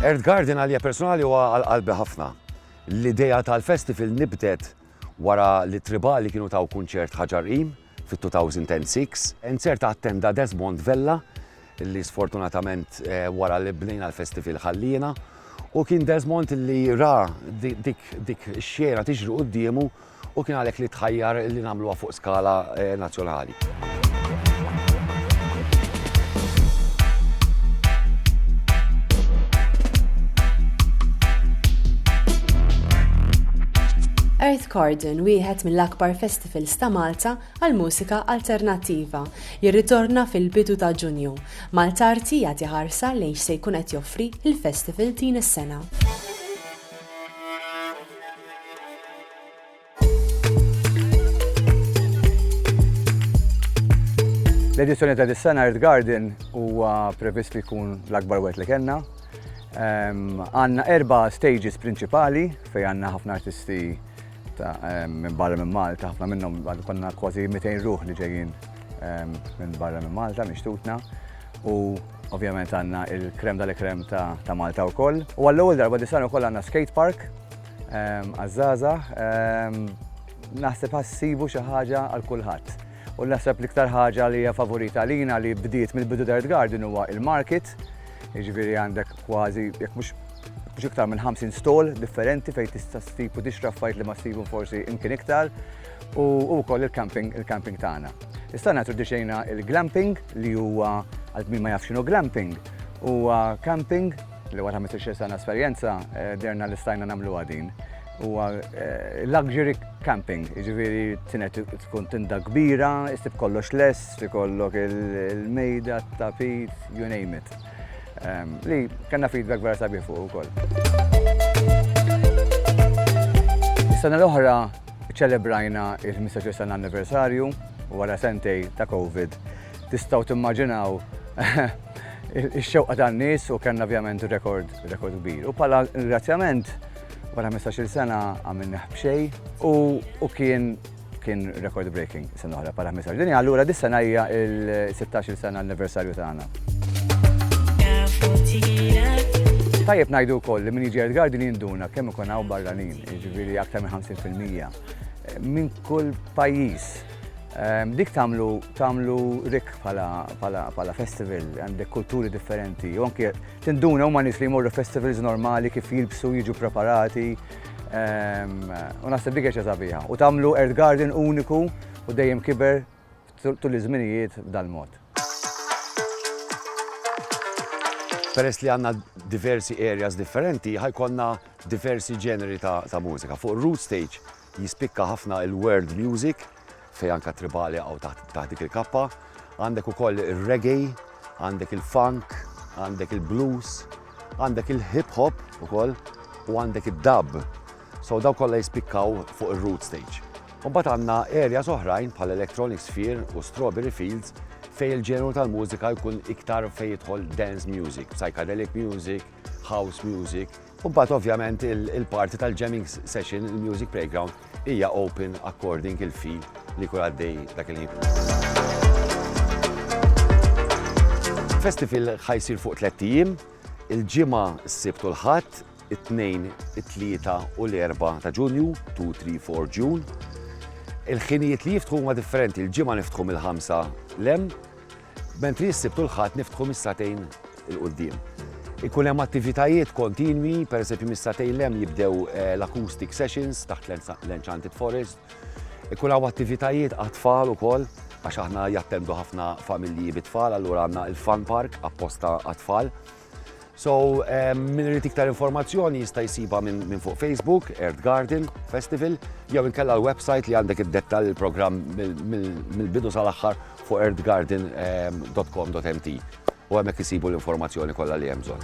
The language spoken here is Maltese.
Earth Garden għalija personali huwa għal qalbi ħafna. L-idea tal-festival nibdet wara li tribali kienu taw kunċert ħaġar qim fit-2006. Inzerta attenda Desmond Vella li sfortunatament wara li bnejna l-Festifil ħalliena u kien Desmond li ra dik ix-xena tiġri quddiemu u kien għalhekk li tħajjar li nagħmluha fuq skala nazzjonali. Earth Garden, wieħed mill-akbar Festivals ta' Malta għall-Mużika Alternattiva jirritorna fil-bidu ta' Ġunju, Malt'Arti jagħti ħarsa lejn x'se jkun qed joffri l-festival din is-sena. L-edizzjoni ta' dis-sena Earth Garden huwa previst li jkun l-akbar wet li kellna. Ehm, għanna erba' stages prinċipali fejn għandna ħafna artisti minn barra minn Malta, ħafna minnhom għadu konna kważi 200 ruħ li ġejjin minn barra minn Malta, mixtutna. U ovvjament għanna il-krem dal-krem ta' Malta u koll. U għall-ewwel darba disan u koll għanna skate park, għazzaza, naħseb ħassibu xi ħaġa għal kulħadd. U naħseb l-iktar ħaġa li hija favorita għalina li bdiet mill-bidu tal-Red Garden huwa il-market, jiġifieri għandek kważi jekk mhux mhux iktar minn 50 stall differenti fejn tista' ssib u tixtra affarijiet li ma ssibhom forsi imkien iktar u wkoll il-camping il-camping tagħna. Issa introduċejna il-glamping li huwa għal min ma jafx x'inhu glamping huwa camping li wara 15 sena esperjenza derna li stajna nagħmluha din. Huwa eh, luxury camping, jiġifieri tinet tkun tinda kbira, istib kollox less, ikollok il-mejda, tapit, you name it. Ehm, li kellna feedback vera sabiħ fuq ukoll. Is-sena l-oħra ċelebrajna il-15 sena anniversarju u wara sentej ta' Covid. Tistgħu timmaġinaw ix-xewqa tan-nies u kellna ovvjament rekord rekord kbir. U bħala ringrazzjament Wara 15-il sena għamilnieh b'xejn u kien kien record breaking sena oħra para 15. Din allura dis sena hija il-16 sena anniversarju tagħna. Tajjeb ngħidu wkoll li min jiġi Garden jinduna kemm ikun hawn barranin, jiġifieri aktar minn 50% minn kull pajjiż. Ehm, dik tagħmlu tagħmlu rik bħala festival, għandek kulturi differenti, u anke Tinduna huma nies li jmorru festivals normali kif jilbsu, jiġu preparati, ehm, u naħseb dik ħaġa sabiħa. U tagħmlu Earth Garden uniku u dejjem kiber tul iż-żminijiet b'dal-mod. Peress li għanna diversi areas differenti, ħajkonna diversi ġeneri ta' mużika. Fuq root stage jispikka ħafna il-world music, fejn anke t-tribali jaqgħu taħt dik il-kappa. Għandek ukoll ir-reggae, għandek il-funk, għandek il-blues, għandek il-hip hop ukoll u għandek id-dub. So daw kollha jispikkaw fuq ir-root stage. Mbagħad għandna erja oħrajn bħal Electronic Sphere u Strawberry Fields fej il-ġenru tal-mużika jkun iktar fej jidħol dance music, psychedelic music, house music, U mbagħad ovvjament il-parti tal-jamming session, il-music playground, hija open according il-feel li jkun għaddej dak il-ħin. Festival ħajsir fuq tliet ijiem, il-Ġimgħa, is-Sibt u l-Ħadd, it-Tnejn, it-Tlieta u l-Erbgħa ta' Ġunju, 2, 3, 4 June. Il-ħinijiet li jiftħu huma differenti, il-Ġimgħa niftħu mill-ħamsa l-hemm, mentri s-Sibt u l-Ħadd niftħu mis-sagħtejn 'il quddiem. Ikun hemm attivitajiet kontinwi, pereżempju mis-sagħtejn 'l hemm jibdew l-acoustic sessions taħt l-Enchanted Forest. Ikun hawn attivitajiet għat-tfal ukoll għax aħna jattendu ħafna familji bit-tfal allura għandna l-Fun Park apposta għat-tfal. So, min irid iktar informazzjoni jista' jsibha minn fuq Facebook, Earth Garden Festival, jew inkella l-website li għandek id-dettal il-programm mill-bidu sal-aħħar fuq earthgarden.com.mt. U hemmhekk isibu l-informazzjoni kollha li hemm bżonn.